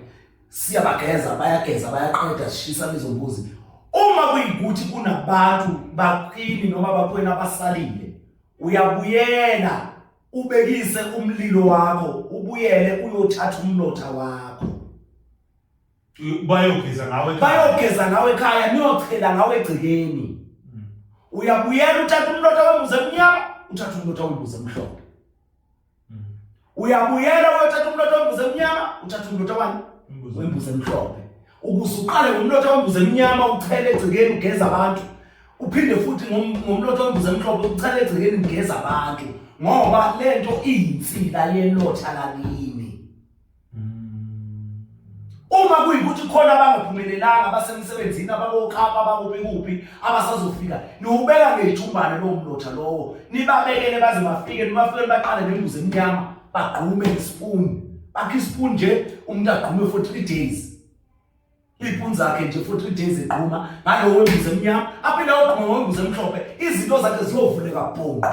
siyabageza bayageza bayaqeda sishisa lezo mbuzi uma kuyikuthi kunabantu baphini noma baphweni abasalile uyabuyela ubekise umlilo wakho ubuyele uyothatha umlotha wakho bayogeza ngawe bayogeza ngawe ekhaya niyochela ngawe egcikeni hmm. uyabuyela uthatha umlotha wembuze emnyama uthatha umlotha wembuze emhlophe uyabuyela uyothatha umlotha wembuzi emnyama uthatha umlotha wani wembuzi emhlophe ukuze uqale ngomlotha wembuzi emnyama uchele egcekeni ugeza abantu uphinde futhi ngomlotha wembuzi emhlophe uchele egcekeni ugeza abantu ngoba lento iyinsila yelotha lakini Uma kuyikuthi khona abangaphumelelanga abasemsebenzini abakokapa abakuphi kuphi abasazofika niwubeka ngejumbane lowo mlotha lowo nibabekele baze bafike nibafike baqale nembuzi emnyama bagqume ispoon bakhe ispoon nje umuntu agqume for 3 days iphuni zakhe nje for 3 days egquma ngalowo mbuzi emnyama aphinde ogquma ngombuzi emhlophe izinto zakhe ziyovuleka bhonqa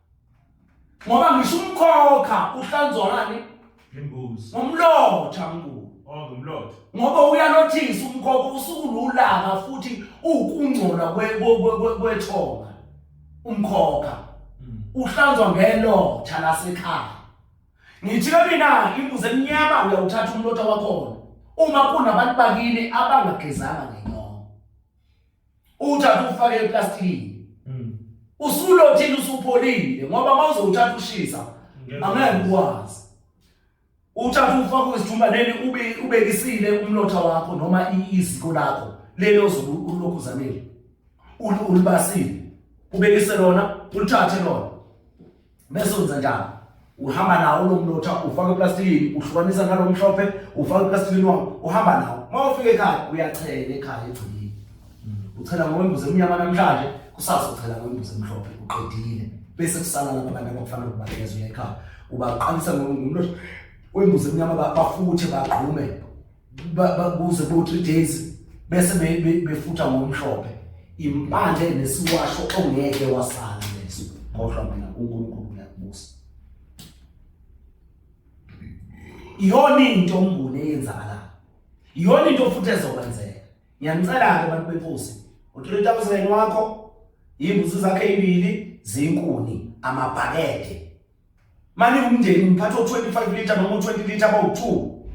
ngoba ngisho umkhokha uhlanzwani imbuzi ngomlotha mkhulu oh ngomlotha ngoba uyalothisa umkhokha usuku lulanga futhi ukungcola kwethonga umkhokha hmm. uhlanzwa ngelotha lasekhaya ngithi ke mina imbuzi emnyama uyawuthatha umlotha wakhona uma kunabantu bakini abangagezanga ngenyongo uthatha ufake eplastikini mm. usulothile usupholile ngoba uma uzowuthatha ushisa angeke ukwazi uthatha ufake kwisithumbaneni ube ubekisile umlotha wakho noma iziko lakho leli ozobe ulokhu uzamile ulibasile ubekise lona ulithathe lona bese wenza njani uhamba nawo lo mlotha ufaka eplastikini uhlukanisa nalo mhlophe ufaka eplastikini wakho uhamba nawo uma ufika ekhaya uyachela ekhaya egcikini uchela ngokwembuzi emnyama namhlanje kusasa uchela ngokwembuzi emhlophe uqedile bese kusala lapha abantu abakufanele ukubanikeza uya ekhaya ubaqalisa ngomlotha wembuzi emnyama bafuthe bagqume bakuze bo three days bese befutha ngomhlophe impande nesiwasho ongeke wasala leso kodwa mina uNkulunkulu uyakubusa iyona into umbuni eyenzakalayo iyona into futhi ezokwenzeka ngiyanicela ke abantu benkosi u3000 wakho imbuzi zakhe ibili zinkuni amabhakede mani umndeni ngiphatha o-25 litre noma u-20 litre abawu-two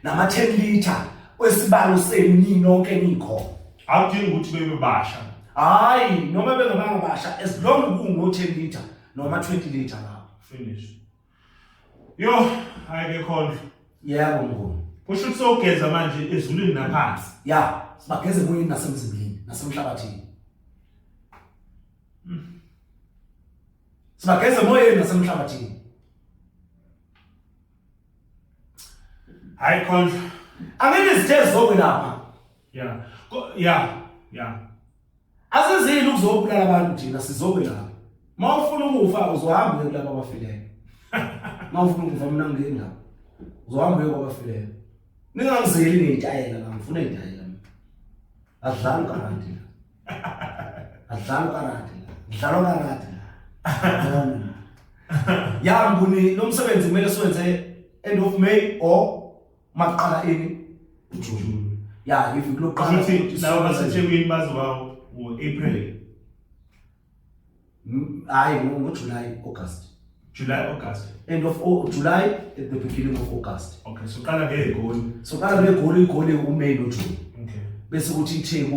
nama-10 litre kwesibalo senu ninonke nikhona akudingi ukuthi bebe basha hhayi noma bengabanga basha as long kungo-10 litre noma 20 litre lapho finish yo hhayi ke khondlo yebo mnguni kusho ukuthi sowugeza manje ezulwini naphansi ya sibageze emoyeni nasemzimbeni nasemhlabathini sibageze emoyeni nasemhlabathini hayi khondla angeke izithe zizokwelapha ya ya ya asizile ukuzobulala abantu thina sizokwelapha uma ufuna ukufa uzohamba uye kulaba abafileyo uma ufuna ukufa mina ngingena uzohamba uye kwabafileyo ningangizeli ngeyitayela la ngifuna itayela adlali kanti adlalo karate ngidlalo karate ya nguni lo msebenzi kumele siwenze end of may or maqala ini june ya if lokuqala ukuthi laba basethekwini bazoba ngo-april Mm, hayi ngojuly august July, August. end of Au- july at the beginning of august Okay, so qala ngegoli. soqala begoli igoli umay nojuni Okay. bese kuthi itheku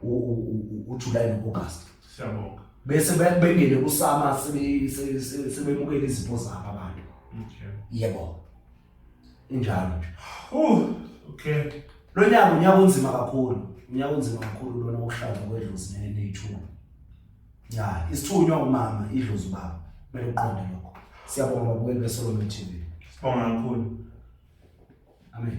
u- u- u- ujuly no-august Siyabonga. bese be- bengene kusama sebe- se- se- sebemukela izipho zabo abantu Okay. yebo injalo nje uh okay lo nyaka unyaka onzima kakhulu unyaka onzima kakhulu lona wokushada kwedlozi neneyithuba ya isithunywa umama idlozi ubaba kumele uqonde lokho siyabonga babukeli beSolomon TV sibonga kakhulu amen